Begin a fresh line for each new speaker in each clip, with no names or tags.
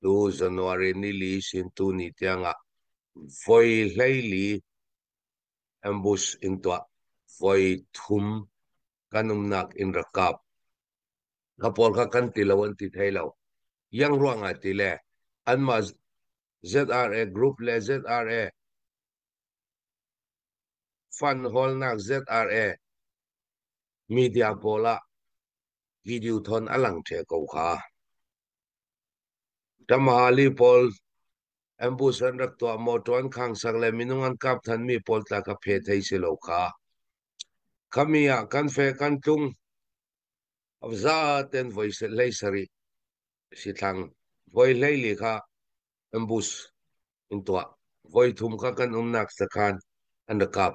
Tu January nili sin tuni tiangah voi hleili ambush in tuah voi thum kan umnak in rak kap ka pawl kha kan ti lo an ti thei lo yang ruang ah ti le anmah ZRA group le ZRA fund holnak ZRA media pawl ah video thon a lang the ko kha Ka Maali pawl ambus an rak tuah mawṭaw an khang sang le minung an kap thanmi pawl tla ka phe thei si lo kha. Khami ah kan fe kan tlung za ten voi se hlei sarih si thlang voi hlei li kha ambus in tuah voi thum kha kan umnak sakhan an rak kap.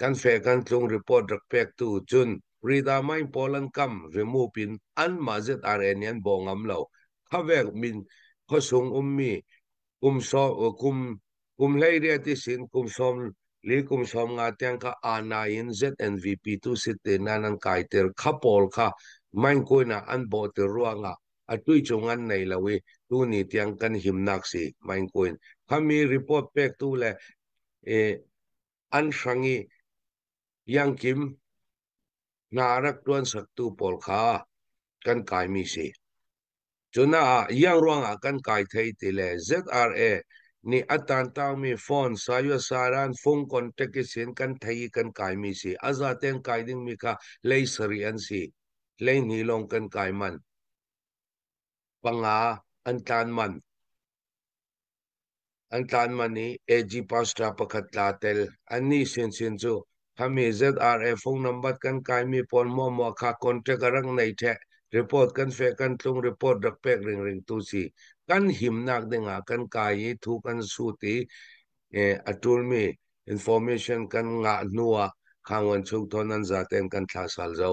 kan fe kan tlung report rak pek tu cun rida mai pawl an kam remove in an ma zet are ni an bo ngam lo khawek min khosung ummi kum so kum kum hlei ria ti sin kum som li kum som nga tiang ka ana in ZNVP tu sit te nan an kai ter kha pol kha main koina an bo te ruanga atui chung an nei lawi tu ni tiang kan himnak si main koin khami report pek tu le e an hrang i Iangkim hna a rak ṭuan saktu pawl kha kan kaimi si. Cunaah Iang ruangah kan kai thei ti le ZRA nih a tantaumi phone Sayusaran phung contact isin kan thei i kan kaimi si. A zaten kai dingmi kha lei sarih an si. Lei hnih lawng kan kai man. Panga an tlan man. An tlan man i AG Pastra pakhat tla tel. Annih sinsin cu khami ZRA phone number kan kaimi pawl muamua kha contract a rak nei ṭheh report kan feh kan tlung report rak pek ringring tu si kan himnak dingah kan kai i thu kan sut i a ṭulmi information kan ngah hnu ah khangwan chung thon an zaten kan thla sal zo.